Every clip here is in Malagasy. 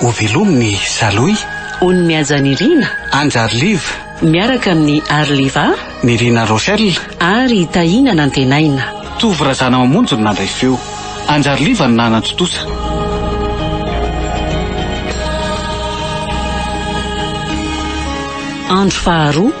Ho velomy ny Salohy. Ony Mihaja Nirina. Andry Arliva. Miaraka amin'i Arliva. Nirina Rochelle. Ary Tahiana Nantenaina. Tovo Razanamamonjy no nandray feo. Andry Arliva no nanan-tontosa. Andro faharoa.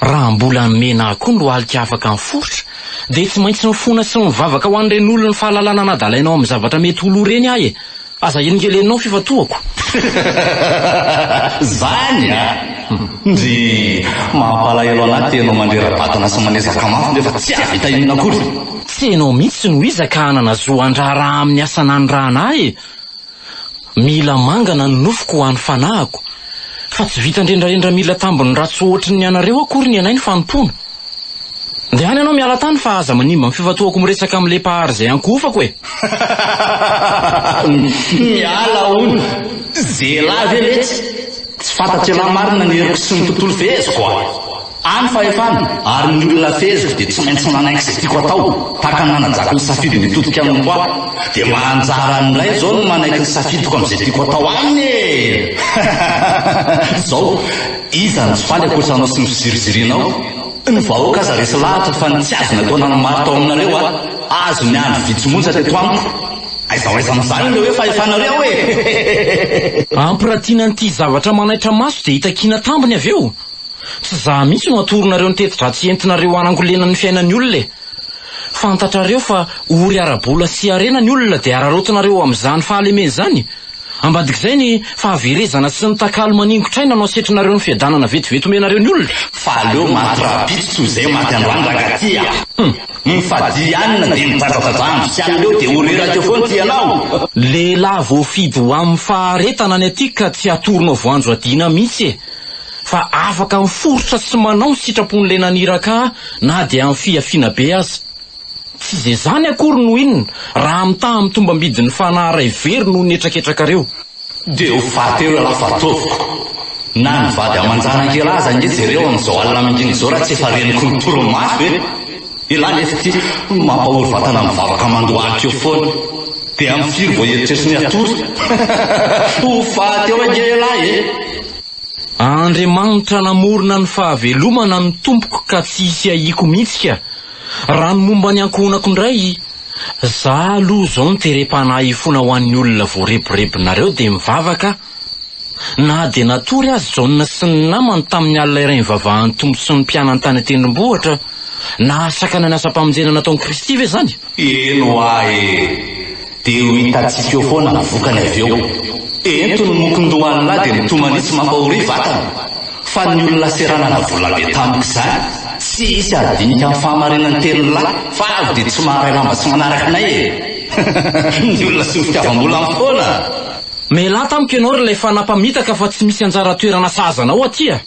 Raha mbola ny mena akoho no alika afaka miforitra dia tsy maintsy mifona sy mivavaka ho an'ireny olon'ny fahalalana anadalaina ao amin'ny zavatra mety ho lo ireny aho e! Aza helingelenina ao fifatohako. Zany a! Ndry! Mampalahelo anah te ianao mandrera-batana sy manezaka mafy nefa tsy hahavita inona akory! Tsy ianao mihitsy no iza ka hanana zo handraharaha amin'ny asa nanirahana ahy e! Mila mangana ny nofoko ho an'ny fanahiko. Fa tsy vita ndrendrarendra mila tambiny ratsy ohatry ny anareo akory ny anay ny fanompoana. Ndeha any ianao miala tany fa aza manimba ny fifantohako miresaka amin'ilay Mpahary izay ankohofako e! Miala hono! Zelahy ve letsy? Tsy fantatr'ialahy marina ny heriko sy ny tontolo feheziko a! Any fahefana, ary ny olona feheziko dia tsy maintsy manainga izay tiako atao, tahaka ny nanajakiny safidy mitodika aminy koa aho. Dia mba anjara any indray izao ny manaiky ny safidiko amin'izay tiako atao any e! Izao, iza no tsy faly ankoatra anao sy ny fizirizirinao? Ny vahoaka aza resy lahatra fa ny tsy azo natao nanamary tao aminareo a! Azo ny andro vitsy monja teto amiko. Aiza ho aiza amin'izany ilay hoe fahefanareo e! Ampirantiana an'ity zavatra manaitra maso dia hitakiana tambiny avy eo. Tsy za mihitsy no atoronareo ny teti-dratsy entinareo hanangolena ny fiainan'ny olona e! Fantatrareo fa ory ara-bola sy harena ny olona dia araraotinareo amin'izany fahalemeny izany? Ambadik'izay ny fahaverezana sy ny takalo maningotr'aina no asetrinareo ny fiadanana vetivety omenareo ny olona? Fa aleo maty rahampitso toy izay maty androany rangaty a! Hum! Mifadia ihany na dia midradradradrandro tsy an'ireo dia ho reraka eo foana ity ianao! Lehilahy voafidy ho amin'ny faharetana ny aty ka tsy atoronao voanjo hadiana mihitsy e! fa afaka miforitra sy manao ny sitrapon'ilay naniraka ahy na dia amin'ny fihafiana be aza. Tsy izay izany akory no inona raha mitaha amin'ny tombam-bidin'ny fanahy iray very noho ny hetraketrakareo. Dia ho faty eo ialahy fa ataoviko. Na ny vady aman-janak'ialahy aza ange jereo amin'izao alina mingingizao raha tsy efa reniko ny torimaso e! Elah lefy ty hono mampahory vatana mivavaka mandohalika eo foana de am firy vao eritreritry ny hatory? ho faty eo ange elah e! Andriamanitra namorona ny fahavelomana ny tompoko ka tsy hisy ahiako mihitsy ka! Raha ny momba ny ankohonako indray, za aloha zao ny terem-panahy ifona ho an'ny olona voarebirebinareo de mivavaka Na dia natory aza i Jaona sy ny namany tamin'ny alina iray nivavahan'ny Tompo sy ny mpianany tany an-tendrombohitra, nahasakana ny asam-pamonjena nataon'i Kristy ve izany? Eny hoa e! Dia ho hitantsika eo foana ny vokany avy eo. Ento ny mokon-dohan'lah dia mitomanitsy mampahoria vatana. Fa ny olona seranana volabe tamiko izany, tsy hisy hadinika ny fahamarinan'ny tenin'lah fa avy dia tsy maharay lamba tsy manaraka anay e! Ny olona sy ny fitiavam-bola foana! Melah tamiko ianao ry lay fanahy mpamitaka fa tsy misy anjara toerana sahaza anao aty a!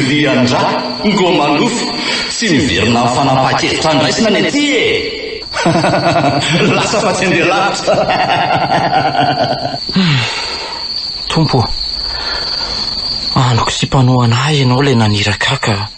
Lian-dra, ngo manofy, tsy miverina amin'ny fanapahan-kevitra andraisana ny aty e! Lasa fa tsy handeha lavitra! Tompo ô! Andoko sy mpanohana ahy ianao ilay naniraka ahy ka.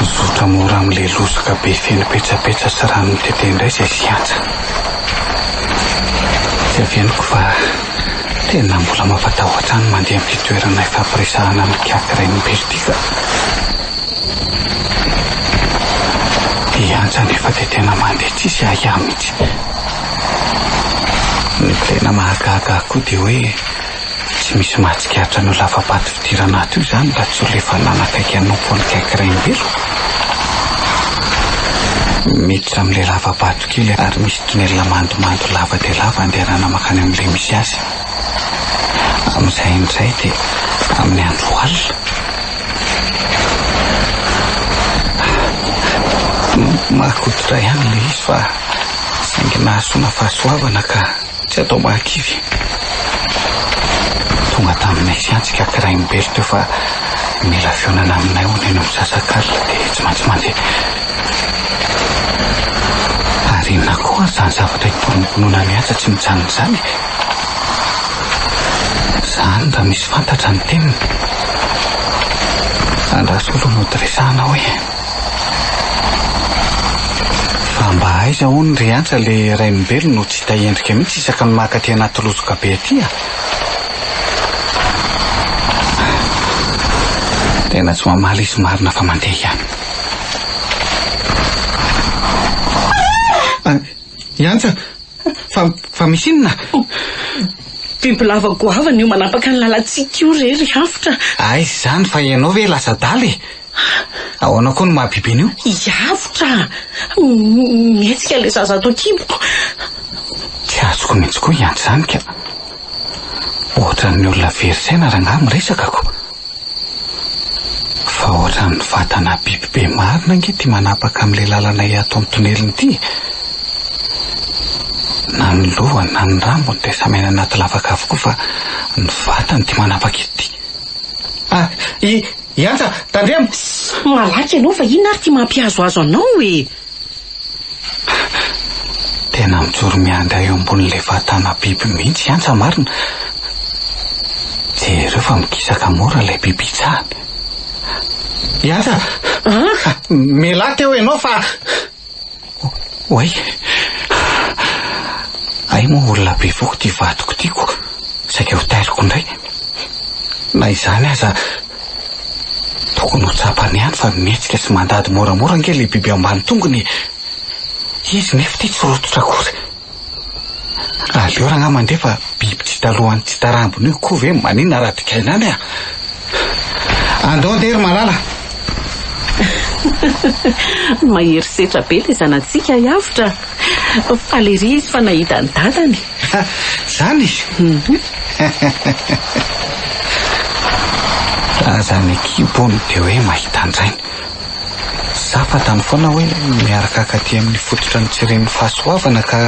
Mizotra mora amin'ilay lozoka be feno petsapetsa sy rano mitete indray izay siantsa. Tsy avy henoko fa tena mbola mampatahotra ahy ny mandeha amin'ity toerana ifampiresahana amin'ny kiaty rainim-pily ity ka. Hiantsa nefa dia tena mandeha tsisy ahiahy mihitsy. Ny tena mahagaga ahy koa dia hoe Tsy misy mahatsikaritra an'io lava-bato fidirana ato io izany raha tsy olona efa nanakaiky hanompo an'i Kaiky Rainibeloka. Miditra amin'ilay lava-bato kely ary misy tonelina mandomando lava dia lava andehanana mankany amin'ilay misy azy. Amin'izay indray dia amin'ny andro alina. Mahakoditra ihany ilay izy fa saingy nahasoana fahasoavana ka. Tsy atao mahakivy. Tonga taminay sy antsy ka kirain'i Berthe teo fa mila fihaonana aminay hono ianao misasak'alina dia tsy maintsy mandeha. Ary inona koa ary izany zavatra itorom-pinoana mihaja tsy mijanona izany e? Zany raha misy fantatra ny teniny. Andraso aloha no hoto resahana hoe. Fa mba aiza hono ry Antsa le Rainimbelo no tsy hita endrika mihitsy isaka ny maka aty anaty lozoka be aty a! Tena tsy mamaly izy marina fa mandeha ihany. An, i Antsa! Fa, fa misy inona? Bibilava goavana io manapaka ny lalantsika io re ry Hafitra a! Aiza izany fa ianao ve lasa adala e! Ahoana koa no maha biby an'io? Hiavotra! Mihetsika ilay zaza ato an-kiboko. Tsy azoko mihitsy koa hiandry izany ka. Ohatran'ny olona very saina rangaha miresaka ko. Fa ohatran'ny vatana biby be marina ange ity manapaka amin'ilay lalanay ato amin'ny tonelina ity e. Na ny lohany na ny rambony dia samy any anaty lavaka avokoa fa ny vatany ity manapaka ity. Ah, i, Iantsa, tandremo! Sss! Malaky ianao fa inona ary ity mampihazohazo anao e! Tena mijoro mianga eo ambonin'ilay vatana biby mihitsy Iantsa marina! Jereo fa mikisaka mora ilay biby itsahany. Iantsa! An? Mialà teo ianao fa. Oay! Hay moa olona be foko ity vadiko ity koa saika ho tairiko indray. Na izany aza, tokony ho tsapany ihany fa mihetsika sy mandady moramora ange ilay biby ambany tongony e! Izy nefa ity tsy rototra akory. Aleo rangahy mandeha fa biby tsy talohan'ny tsy tarambiny io koa ve maninona raha digaina any a! Andao andeha ry Malala. Mahery setra be ilay zanatsika hiavotra. Faly ery izy fa nahita an'i dadany. Izany? Raha aza ny kibony dia hoe mahita an-drainy. Za fantany foana hoe miarakaka aty amin'ny fototra nitsiren'ny fahasoavana ka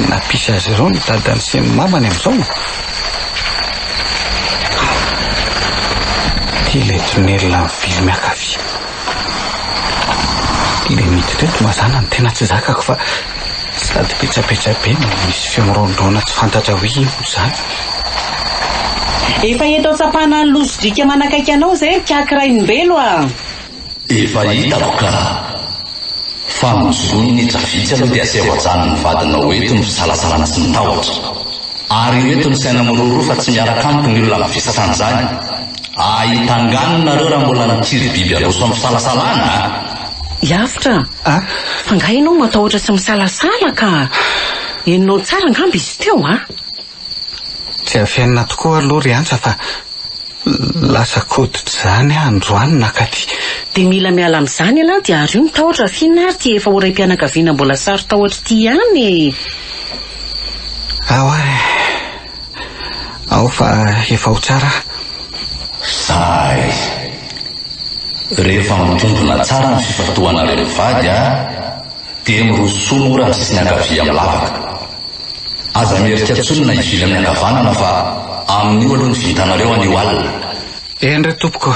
nampisy azy ireo ny dadany sy ny mamany amin'izao. Ity ilay tunnel amin'ny vily miankavia. Ilay miditra eto mazàna ny tena tsy zakako fa Sady petsapetsa be no misy feo mirondrona tsy fantatra hoe inona izany. Efa eto an-tsampana any Lozodriaka manakaiky anao izay ry Kaky Rainimbelo a! Efa hitako ka! Fa ny zonin'Hetra vitsy aloha dia aseho hajanony ny vadinao ho eto ny fisalasalana sy ny tahotra. Ary ho eto ny saina miroroa fa tsy miaraka amiko ny olona mivesatra an'izany. Ahita angano nareo raha mbola nikiry biby aroso amin'ny fisalasalana a! Hiavotra a! Fa nga ianao matahotra sy misalasala ka! Henonao tsara angamba izy teo a! Tsy afenina tokoa aloha ry Antsa fa lasa koditra izany aho androany nakaty. Dia mila miala amin'izany ianao dia ario ny tahotra fa inona ary ity efa ho raim-pianakaviana mbola saro-tahotra ity ihany e! Aoa e! aho fa efa ho tsara aho. Sazy. Rehefa mitombina tsara ny fifantohanareo mivady a, dia mirosoa mora ny sisiny ankavia amin'ny lavaka. Aza mierika intsony na hivily amin'ny ankavanana fa amin'io aloha ny vintanareo anio alina. Eny re tompoko.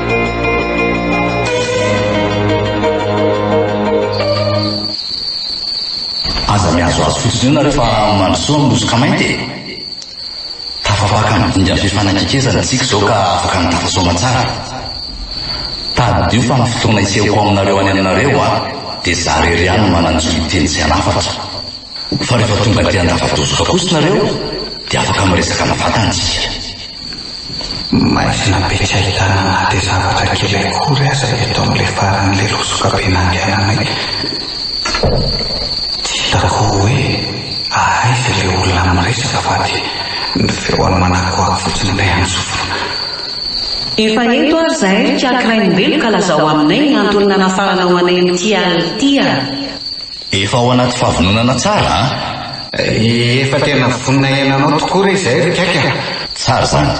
Aza mihazohazo fotsiny eo nareo fa mandrosoa amin'ny hosoka mainty e! Tafabaka amin'ny dingan'ny fifanakaikezana isika izao ka afaka ny tafasaoma tsara. Tadidio fa ny fotoana hisehoko ao aminareo any aminareo aho dia izaho irery ihany no manan-jo hiteny sy hanafatra. Fa rehefa tonga aty an-davadozoka kosa nareo dia afaka miresaka mivantana isika. Maizina be tsy ahitana na dia zavatra kely akory aza eto amin'ilay faran'ilay losoka be nandehananay. Tsy hitako hoe ahaiza ilay olona miresaka fa dia ny feony manakoako fotsiny ilay antsofina. Efa eto ary izahay ry Kiakiraimbelo ka lazao aminay ny antony nanafaranao anay amin'ity alina ity a! Efa ao anaty fahavononana tsara an! Efa tena vonona hiaina anao tokoa re izay ry kaiky a! Tsara izany.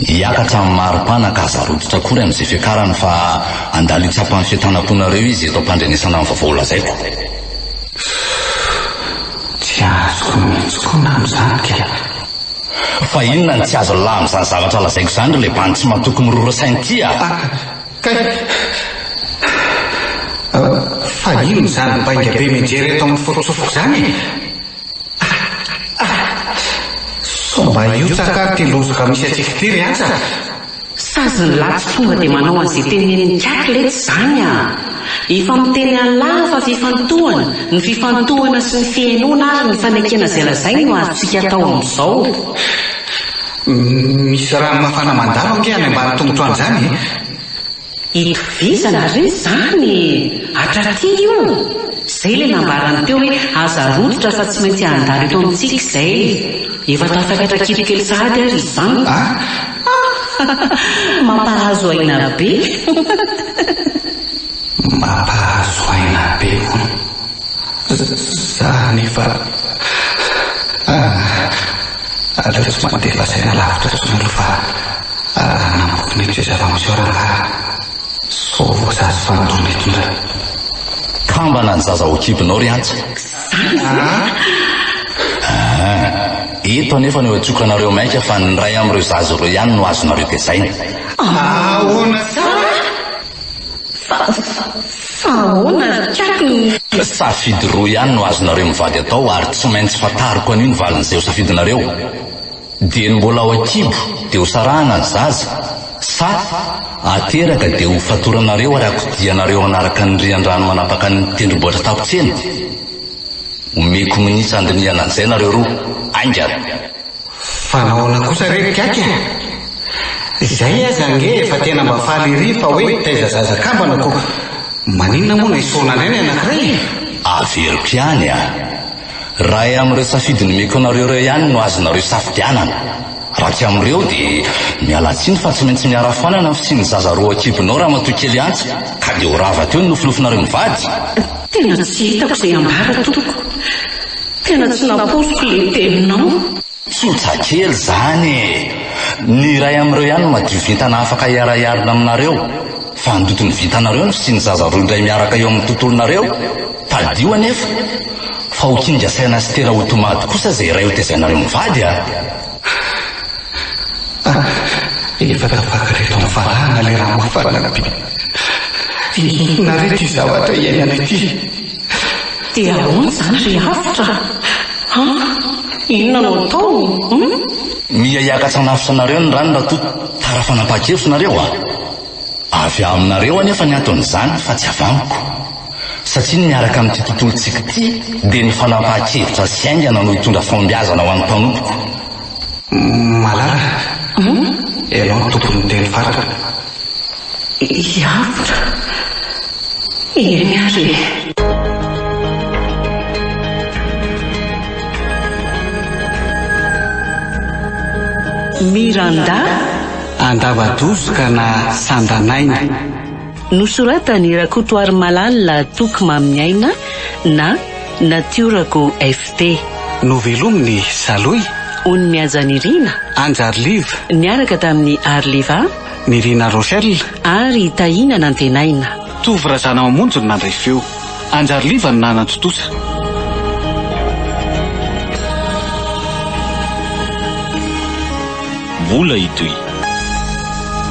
Hiakatra amin'ny mari-pana ka aza rototra akory amin'izay fiakarany fa handalo hitsapan'ny fientanam-ponareo izy eto am-pandrenesana ny vaovao lazaiko. Tsy azoko ny hitsikona amin'izany kay a! Fa inona no tsy azon'lah amin'izany zavatra lazaiko izany ry leban'ny tsy matoky mirora saina ity a! Kay! Fa inona izany bainga be mianjera eto amin'ny foto-tsofiko izany e? Ah! Ah! Sao mba hihotsaka ary ity lozoka misy atsika ity ry atsaka? Sazy ny lahy tsy tonga dia manao an'izay tenenin'i Kay letsy izany a! Efa miteny an'lah fa fifantohana, ny fifantohana sy ny fihenoana ary ny fanekena izay lazainy no azontsika atao amin'izao. Misy rano mafana mandalo ange any ambany tongotro any zany e! Itovizana re zany e! Hatraty io! Zay le nambarany teo hoe aza rototra fa tsy maintsy handalo eto amintsika izay! Efa tafakatra kibo kely sahady ary izany! Mampahazo aina be! Mampahazo aina be hono! Za anefa. Aleo tsy mandeha lazaina lavitra intsony aloha fa raha nambotry mety izay zava-miseho rangahy sao voasazy fanondrona eto indray. Kambana ny zaza ao an-kibonao ry Antso. Zaza a! Ah, eto anefa no iantsokanareo mainka fa ny iray amin'ireo zaza ireo ihany no azonareo tezaina. Ahoana tsara? Fa ahoana ry Kiaky no. Safidy roa ihany no azonareo mivady atao ary tsy maintsy fantariko anio ny valin'izay ho safidinareo. Dieny mbola ao an-kibo dia ho sarahana ny zaza, sa ateraka dia ho fatoranareo ary akodianareo hanaraka ny rian-drano manapaka ny tendrombohitra takontsena? Omeko minitra handinihana an'izay nareo roa. Aingana! Fa nahoana kosa re ry Kiaky a? Izay aza ange efa tena mba faly ery fa hoe taiza zaza kambana ko maninona moa no esorina indray ny anankiray e? Averiko ihany a! Raha amin'ireo safidy nomeko anareo ireo ihany no azonareo safidianana, raha tsy amin'ireo dia miala tsiny fa tsy maintsy miara foanana ny fisian'ny zaza roa an-kibonao ramatoa kely Antso ka dia ho rava teo ny nofinofinareo mivady! Tena tsy hitako izay ambara tompoko. Tena tsy nampoiziko ilay teninao. Tsotra kely izany e! Ny iray amin'ireo ihany no madio vintana afaka hiara-hiarina aminareo. Fa handoto ny vintanareo ny fisian'ny zaza roa indray miaraka eo amin'ny tontolonareo. Tadidio anefa fa ho kinga saina sy tera ho tomady kosa izay iray hotezainareo mivady a! Ah, efa tafaka ireto amin'ny valahana ilay ramofana be. Inona re ity zavatra iainana ity? Dia ahoana izany ry Avotra? An, inona no atao? Hum? Miha hiakatra hanavotra anareo ny rano raha toa tara fanapahan-kevitra nareo a! Avy aminareo anefa ny anton'izany fa tsy avy amiko. satria ny miaraka amin'ity tontolontsika ity dia ny fanampahan-kevitra sy haingana no hitondra fahombiazana ho an'ny mpanompoko. Malala, ianao no tompon'ny teny farany. I Avotra, eny ary e. Miranda. Andava-dozoka na sanda-naina. Nosoratan'i Rakotoarimalala Toky Maminiaina na Natiora Go FT. Novelomin'i Saloy. Ony Mihaja Nirina. Anjary Live. Niaraka tamin'i Ary Liva. Nirina Rochelle. Ary Tahina Nantenaina. Tovo Razanamamonjy no nandray feo. Anjary Liva no nanan-tontosa. Mbola hitohy.